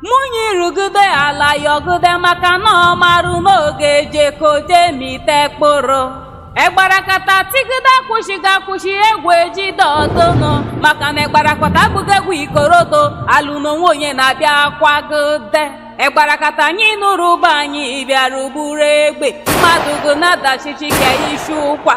Munyi rugude ala yọgude maka na ọ marụ n'oge jekoje mite kpụrụ. Egbarakata tigude akwụshighị akwụshị egwu ejide ọdụnụ maka na egbarakata abụghị egwu ikorodo alụ n'ọnwụ onye na-abịa kwagụde. Egbarakata anyị nụrụ ụba anyị bịara bụrụ egbe mmadụ gụ na-adachichi ka ishi ụkwa.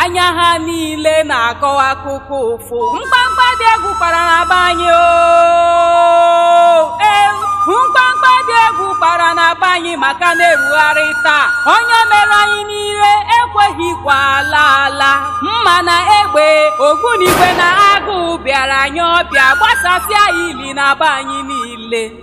anya ha niile na-akọwa akụkọ ụfụ mkpamkpa dị egwu kpara na be anyị oo. Ee, mkpamkpa dị egwu kpara na be anyị maka na-erugharị taa ọnya merụ anyị niile ekweghịkwa ala ala mma na egbe ogbunigwe na agụụ bịara anyị ọbịa gbasasịa ili na be anyị niile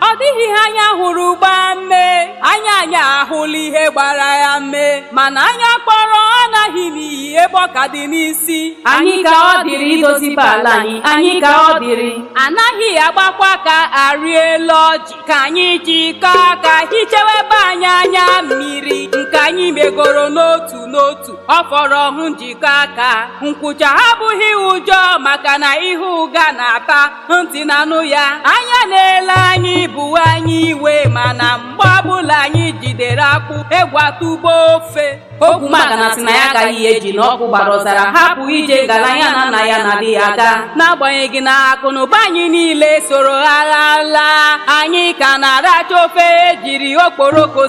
ọ dịghị ihe anya hụrụ gbaa mmee anya anyị ahụla ihe gbara ya mmee mana anya kpọrọ alaghị n'iyi ebe ọ ka dị n'isi anyị ka ọ dịrị idoziba ala anyị anyị ka ọ dịrị anaghị agbakwa aka arị elu ọjị ka anyị jikọọ aka hichewe be anyị anya mmiri nke anyị megoro n'otu n'otu ọ fọrọ ọhụ njikọ aka nkwụcha abụghị ụjọ maka na ihe ụga na-ata ntị na-anụ ya anya na-ele anyị bụ anya iwe mana mgbe ọbụla anyị jidere akpụ egwu atụgbuo ofe ogwumagana sị na ya agaghị eji na ọkụ gbara ọzara hapụ ije ngala ya na nna ya na-adị aga n'agbanyeghị na akụ na ụba anyị niile soro agha laa anyị ka na-aracha ofe ejiri okporoko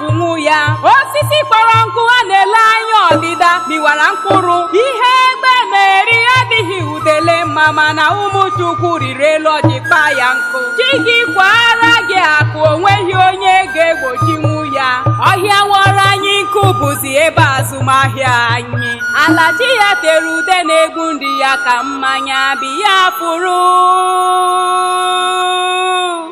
ụnwụ ya osisi kpọrọ nkụ a na-ele anya ọdịda mịwara mkpụrụ ihe egbe na-eri adịghị udele mma mana ụmụ chukwu rịrị elu ọjị kpaa ya nkụ chi gị kwaara gị akụ o nweghị onye ga-egbochinwu ya ọhịa wọrọ anyị nkụ bụzi ebe azụmahịa anyị ala chi ya tere ude na-egbu ndị ya ka mmanya biya fụrụ